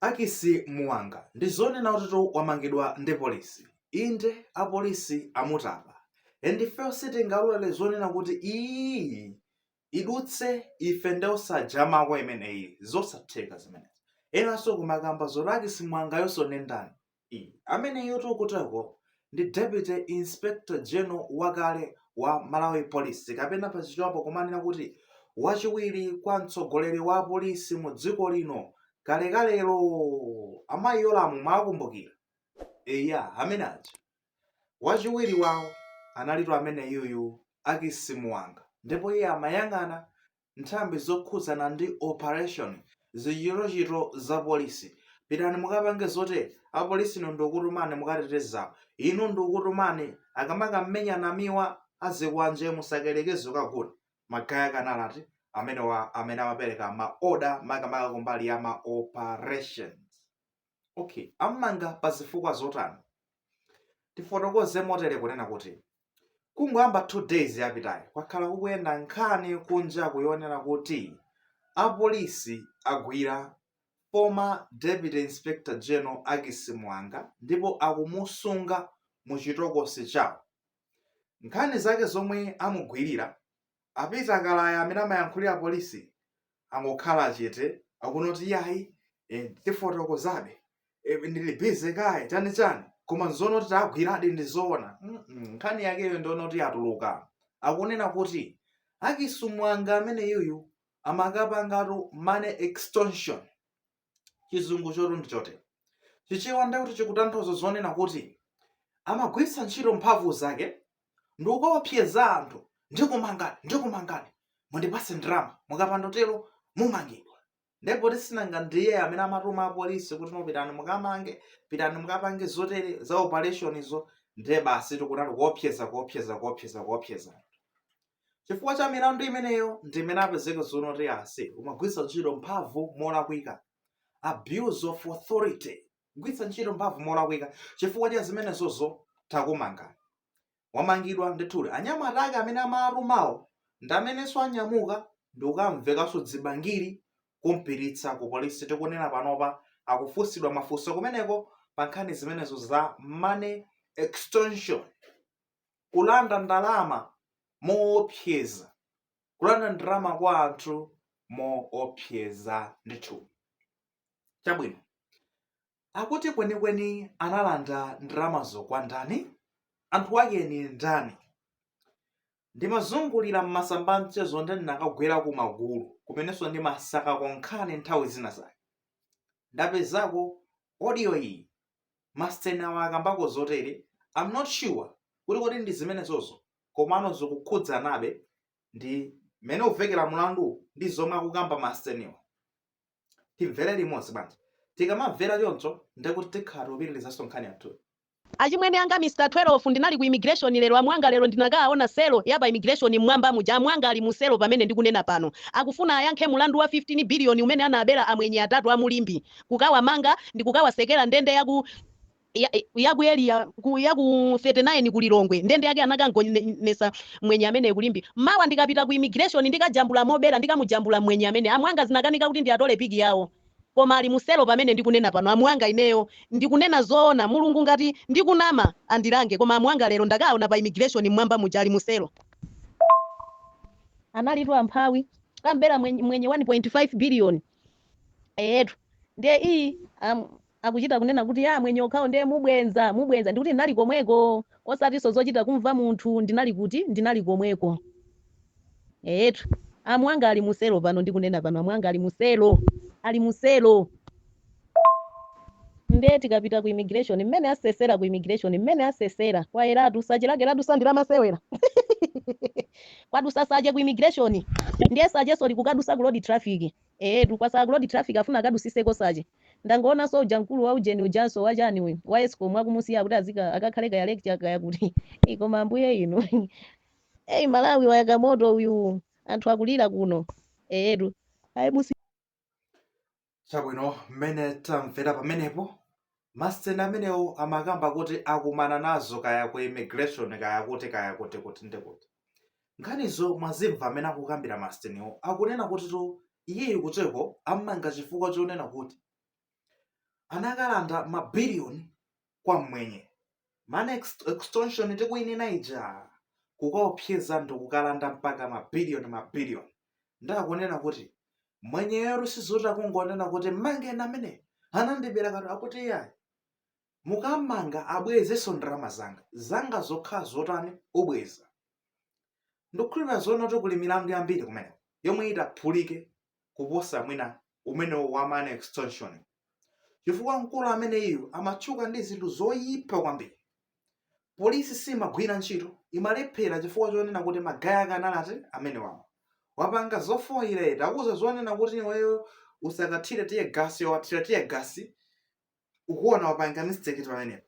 Akisi Muwanga, ndi zoona kutitu wamangidwa ndi polisi. Inde, apolisi amutapa. And ifeyo sitingalole zonena kuti iyiyi idutse ife nde osajamako imeneyi. Zosatheka zimenezi. Enanso kumakamba zoti Akisi Muwangayonso nde ndani? Ameneyotu kuteroko ndi Deputy Inspector General wakale wa Malawi Police kapena pa Chichewapo nkumanena kuti wachiwiri kwa mtsogoleri wa apolisi mu dziko lino kalekalelo. A Mayi Yolamu mwawakumbukira? Eya, amene aja. Wachiwiri wawo analitu ameneyuyu Akisi Muwanga ndipo iye amayang'ana nthambi zokhudzana ndi operation, zichitochito za polisi. Pitani mukapange zotere apolisi inu ndikukutumani mukateteze apo. Inu ndikukutumani akamakamenya Namiwa azikwanje musakalekeze kukagula. Magaye ake anali amenewa amene amapereka ma order makamaka kumbali ya ma operations. Okay, ammanga pa zifukwa zotani? Tifotokoze motere kunena kuti kungoyamba 2 days yapitayo kwakhala kukuyenda nkhani kunja kuno yonena kuti apolisi agwira former Deputy Inspector General Akisi Muwanga ndipo akumusunga mu chitokosi chawo. Nkhani zake zomwe amugwirira a Peter Kalaya amene amayankhulira polisi angokhala chete akunena kuti iyayi eh, tifotokozabe eh, ndili busy kaye chani chani koma nzonena kuti tagwiradi ndi zoona Mm, mm, nkhani yakeyo nyonena kuti yatuluka akunena kuti Akisi Muwanga ameneyuyu amakapangatu money extortion chizungucho tu ndi chotere chichewa ndekuti chikutanthauza zonena kuti amagwiritsa ntchito mphamvu zake ndi kukaopseza anthu ndikumangani ndikumangani mundipase ndalama mukapanda tero mumangidwa nde poti sinanga ndiye amene amatuma apolisi kuti inu pitani mukamange pitani mukapange zotere za operation izo ndiye basi tikunati kuopseza kuopseza kuopseza kuopseza Chifukwa cha milandu imeneyo ndi imene apezeka zonoti yes umagwiritsa ntchito mphamvu molakwika, abuse of authority, kugwiritsa ntchito mphamvu molakwika. Chifukwa cha zimenezozo takumangani. Wamangidwa ndithudi. Anyamata ake amene amatumawo ndi amenenso anyamuka ndi kukamvekaso dzibangili kumpititsa ku polisi. Tikunena panopa akufunsidwa mafunso kumeneko pa nkhani zimenezo za money extortion. kulanda ndalama moopseza, kulanda ndalama kwa anthu moopseza ndithu. Chabwino, akuti kwenikweni analanda ndalamazo kwa ndani? Anthu ake ni ndani? Ndimazungulira m'masamba amchezo nde ndinakagwera ku magulu kumenenso ndimasakako nkhani nthawi zina zake. Ndapezako odiyo iyi Masten awa akambako zotere I'm not sure kuti kodi ndi zimenezozo komano zikukhudzanabe ndi mmene uvekera mlandu ndi zomwe akukamba masteniwa. Timvere limodzi bwanji? Tikamamvera choncho ndekuti tikhala tikupitirizanso nkhani yathuyi. Achimwene anga Mr 12 ndinali ku immigration lero amwanga lero ndinakaaona mu selo ya pa immigration mmwamba muja amwanga ali mu selo pamene ndikunena pano akufuna ayankhe mulandu wa 15 billion umene anaabela amwenye atatu a mu Limbi kukawamanga ndi kukawatsekera ndende ya ku ya, ya ku Area ku ya ku 39 ku Lilongwe ndende yake anakamgonetsa mwenye amene ku Limbi mawa ndikapita ku immigration ndikajambula mobera ndikamujambula mwenye amene amwanga zinakanika kuti ndiatole pic yawo koma ali muselo pamene ndikunena pano amwanga ineyo ndikunena zoona mulungu ngati ndikunama andilange koma amwanga lero ndakawaona pa immigration mmwamba muja ali muselo analitu amphawi kumbera mwenye, mwenye 1.5 billion eyetu ndiye iyi am, akuchita kunena kuti ya amwenye okhawo ndiye mubwenza mubwenza ndikuti ndinali komweko osatinso zochita kumva munthu ndinali kuti ndinali komweko eyetu amwanga ali muselo pano ndikunena pano amwanga ali muselo ali muselo Nde tikapita ku immigration mmene asesera ku immigration mmene asesera kwayeratu search lake ladutsa silamasewera kwadutsa search ku immigration ndiye search-so likukadutsa ku road traffic eetu kwatsala ku road traffic afuna akadutsitseko search ndangoonanso uja mkulu wa ujeni ujanso wachani uyu wa escom akumusiya kuti azika akakhale kaya lecturer kaya kuti Eh, koma ambuye inu eyi malawi wayaka moto uyu anthu akulira kuno eetu ayi musi chabwino mmene tamvera pamenepo masteni amenewo amakamba kuti akumana nazo kaya ku immigration kaya kuti kaya kuti kuti ndekuti nkhanizo mwazimva amene akukambira masiteniwo akunena kutitu iyeyo kuteko ammanga chifukwa chonena kuti anakalanda mabiliyoni kwa mmwenye man ex- extortion tikuinena ija kukaopseza ndi kukalanda mpaka mabiliyoni mabiliyoni nde akunena kuti mwenyeyotu sizoti akungonena kuti mmangeni amene anandibera kapena akuti iyayi mukam'manga abwezenso ndalama zanga zanga zokha zotani obweza ndikukhulupirira zoona kuti kuli milandu yambiri kumene yomwe itaphulike kuposa mwina wumenewo wa money extortion chifukwa mkulu ameneyu amatchuka ndi zinthu zoyipa kwambiri polisi simagwira ntchito imalephera chifukwa chonena kuti magaye akanalati amene wapanga zofoyira takuuza zonena kuti iweyo usakathire tiye gasi iwe wathira tiye gasi ukuona wapanga mistake pamenepo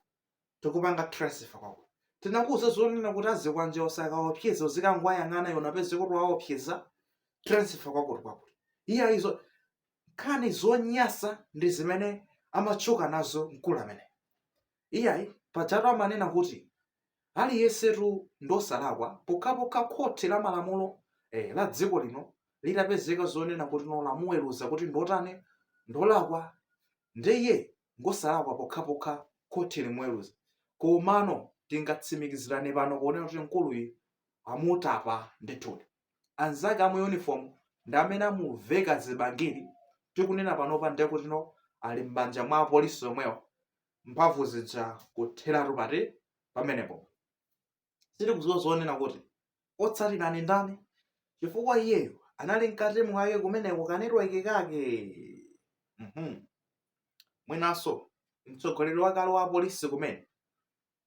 tikupanga transfer kwako tinakuuza zonena kuti azikwanje usakaopseze uzikangwayang'ana iwe napezeka kuti waopseza transfer kwakuti kwakuti iya izo nkhani zonyasa ndi zimene amatchuka nazo mkulu amene iyayi pajatu amanena kuti Aliyensetu ndi osalakwa pokhapokha khoti la malamulo eh la dziko lino litapezeka zonena kuti no lamuweruza kuti ndiotani ndolakwa nde iye ngosalakwa pokhapokha khoti limuweruza komano tingatsimikizirane pano ponena kuti mkuluyi amutapa ndithudi anzake a mu uniform ndi amene amuveka zibangiri tikunena panopa ndekutino ali m'manja mwa apolisi omwewo mphamvu zija kutheratu fati pamenepo. Sitikudziwa zonena kuti otsatira ni ndani, chifukwa iyeyo anali mkati mwake kumeneko kanetweke kake. Mhm. Mwinanso mtsogoleri wakale wa apolisi kumene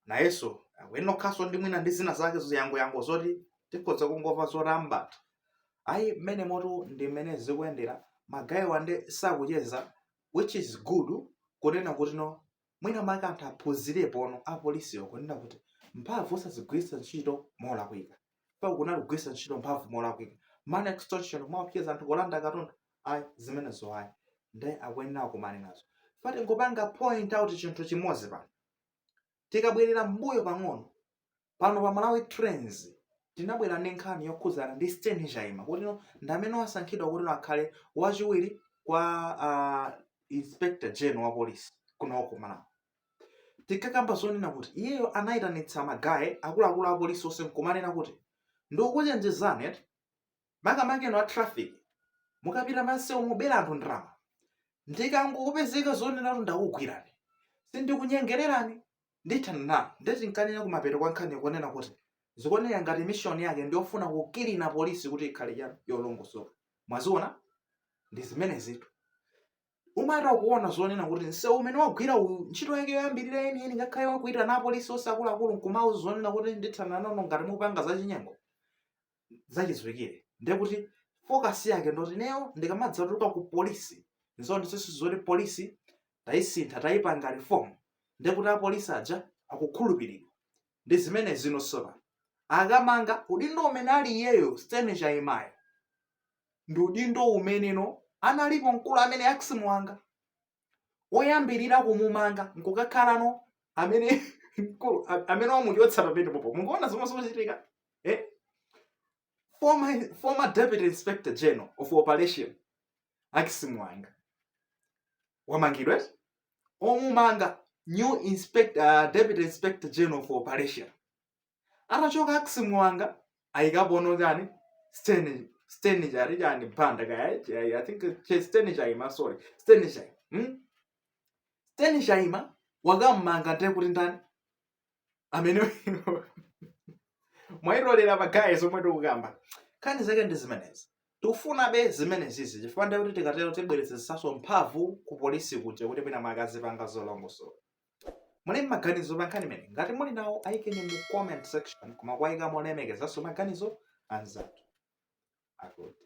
nayenso akuyenekanso ndi mwina ndi zina zake ziyangoyango zoti tikhoza kungomva zoti amtapa ayi mmenemotu ndi mmene zikuyendera magayiwa and sakucheza which is good kunena kuti no mwina mwake anthu aphunzirepono apolisiwo kunena kuti mphamvu osazigwiritsa ntchito molakwika paja kunali kugwiritsa ntchito mphamvu molakwika money extortion kuwaopseza anthu kulanda katundu ayi zimenezo ayi nde akuyenera akumane nazo fati ndingopanga point out chinthu chimodzi pano Tikabwerera mmbuyo pang'ono, pano pa Malawi Trends tinabwera ndi nkhani yokhudzana ndi Stain Chaima kutino ndi amene wasankhidwa kutino akhale wachiwiri kwa a Inspector General wa polisi kuno ku Malawi. Tinkakamba zonena kuti iyeyo anayitanitsa magaye akuluakulu a polisi onse nkumanena kuti ndikukuchenjezani eti makamaka inu a traffic mukapita pansewu mukubera anthu ndalama ndikangopezeka zonena kuti ndakugwirani sindikunyengererani ndithana nanu ndeti ndinkanena kumapeto kwa nkhani kunena kuti zikuoneka ngati mishoni yake ndiyofuna kukilina polisi kuti ikhale ya- yolongosoka mwaziona ndi zimenezitu umatha kuona zonena kuti nsewu umene wagwira uyu ntchito yake yoyambirira yeniyeni ngakhale wokuitana apolisi onse akuluakulu nkumawauza zonena kuti ndithana nanu ngati mupanga zachinyengo zachidziwikire ndiye kuti focus yake ndoti ineyo ndikamadzatuluka ku polisi ndionetsetse zoti polisi tayisintha tayipanga reform ndiye kuti apolisi aja akukhulupiridwa ndi zimene zinasowa akamanga udindo umene ali iyeyo Stanley Chaimayo ndi udindo umene analipo mkulu amene aksimuwanga oyambirira kumumanga nkukakhalano amene mkulu a- amene wamuchotsa pamenepopo mukuona zomwe zikuchitika eh? former, former deputy inspector general of operation aksimuwanga wamangidwa eti? omumanga new inspector, uh, deputy inspector general of operation atachoka aksimuwanga ayikapono chani Sten- Stanley Cha- ati chani banda kaya chai- i think che- Stanley Chaima sorry Stanley Cha hmm? Stanley Chaima wakam'manga ndiye kuti nkhani imene mwayitolera pa guys omwe tikukamba nkhani zake ndi zimenezi tikufuna zimenezizi chifukwa ndiye kuti tikatero tibwezeretsaso mphamvu ku polisi kuja kuti mwina mukazipanga zolongosoka Muli ndi maganizo pa nkhani imeneyi? Ngati muli nawo ayikeni mu comment section koma kuwayika molemekezanso maganizo anzathu akuti.